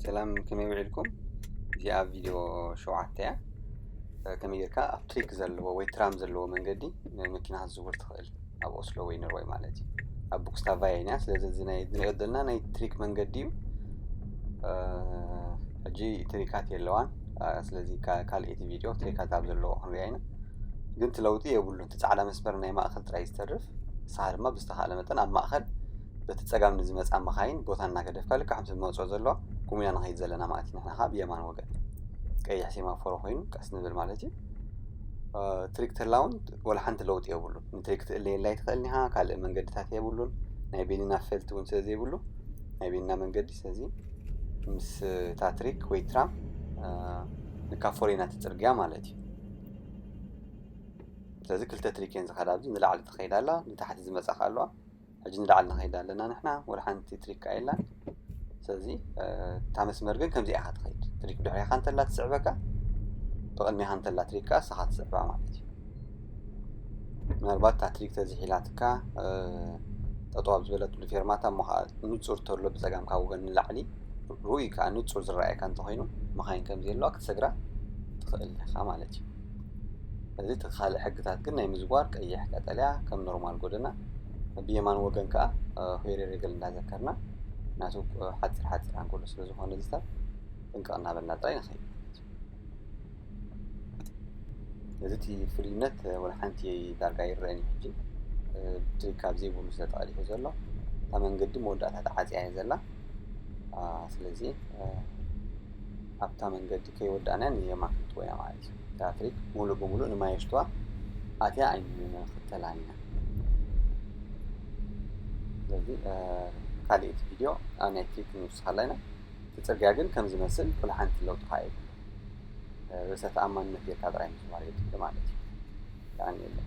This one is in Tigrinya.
ሰላም ከመይ ውዒልኩም እዚኣ ቪድዮ ሸውዓተ እያ ከመይ ጌርካ ኣብ ትሪክ ዘለዎ ወይ ትራም ዘለዎ መንገዲ መኪና ክትዝውር ትኽእል ኣብ ኦስሎ ወይ ኖርወይ ማለት እዩ ኣብ ቡክስታቫ ኢና ስለዚ ዝንሪኦ ዘለና ናይ ትሪክ መንገዲ እዩ ሕጂ ትሪካት የለዋን ስለዚ ካልኤቲ ቪድዮ ትሪካት ኣብ ዘለዎ ክንሪኣ ኢና ግን ትለውጢ የብሉን እቲ ፃዕዳ መስመር ናይ ማእኸል ጥራይ ዝተርፍ ንስኻ ድማ ብዝተኻእለ መጠን ኣብ ማእኸል በቲ ጸጋም ንዝመጻ መኻይን ቦታ እናገደፍካ ልክዕ ከምቲ ብመውጽኦ ዘሎ ቁም ኢና ንኸይድ ዘለና ማለት እዩ ንሕና ከኣ ብየማን ወገን ቀይሕ ሴማፎሮ ኮይኑ ቀስ ንብል ማለት እዩ ትሪክ ተላውን ወላ ሓንቲ ለውጢ የብሉን ንትሪክ ትእለየላ ይትኽእል ኒሃ ካልእ መንገድታት የብሉን ናይ ቤኒና ፈልቲ እውን ስለ ዘይብሉ ናይ ቤኒና መንገዲ ስለዚ ምስ ታትሪክ ወይ ትራም ንካፎር ኢና ትፅርግያ ማለት እዩ ስለዚ ክልተ ትሪክ እየን ዝኸዳ ኣብዚ ንላዕሊ ትኸይድ ኣላ ንታሕቲ ዝመፃ ከ ኣለዋ ሕጂ ንላዕሊ ንኸይድ ኣለና ንሕና ወላ ሓንቲ ትሪክ ከኣ የላን ስለዚ እታ መስመር ግን ከምዚኣ ኢኻ ትኸይድ ትሪክ ድሕሪኻ እንተላ ትስዕበካ ብቕድሚኻ እንተላ ትሪክ ከኣ ንስኻ ትስዕባ ማለት እዩ ምናልባት እታ ትሪክ ተዝሒላትካ ጠጠው ኣብ ዝበለትሉ ፌርማታ እሞ ከዓ ንፁር ተሎ ብፀጋም ካብ ወገን ንላዕሊ ርኡይ ከዓ ንፁር ዝረኣየካ እንተኮይኑ መኻይን ከምዘየለዋ ክትሰግራ ትኽእል ኢኻ ማለት እዩ እዚ ተኻሊ ሕግታት ግን ናይ ምዝዋር ቀይሕ ቀጠልያ ከም ኖርማል ጎደና ብየማን ወገን ከዓ ሆይሬ ሬገል እንዳዘከርና ናቱ ሓፂር ሓፂር ኣንጎሎ ስለ ዝኾነ እዚ ሰብ ጥንቅቕ እናበልና ጥራይ ንኸይድ እዚ እቲ ፍሉይነት ወላ ሓንቲ ዳርጋ ይረአን እዩ ሕጂ እቲ ካብ ዘይብሉ ስለ ተቐዲሑ ዘሎ እታ መንገዲ መወዳእታ ተዓፅያ እየ ዘላ ስለዚ ኣብታ መንገዲ ከይወዳእናን ንየማን ክንጥወያ ማለት እዩ። እታ ኣፍሪክ ሙሉእ ብሙሉእ ንማየሽትዋ ኣትያ ኣይንክተላን ኢና። ስለዚ ካሊኢት ቪድዮ ናይ ትሪክ ንውስካላ ኢና። እቲ ፅርግያ ግን ከም ዝመስል ኩሉ ሓንቲ ለውጢ ከዓ የብሉ። ርእሰ ተኣማንነት ጌርካ ጥራይ ምዝዋር የድሊ ማለት እዩ። የቀንየለይ።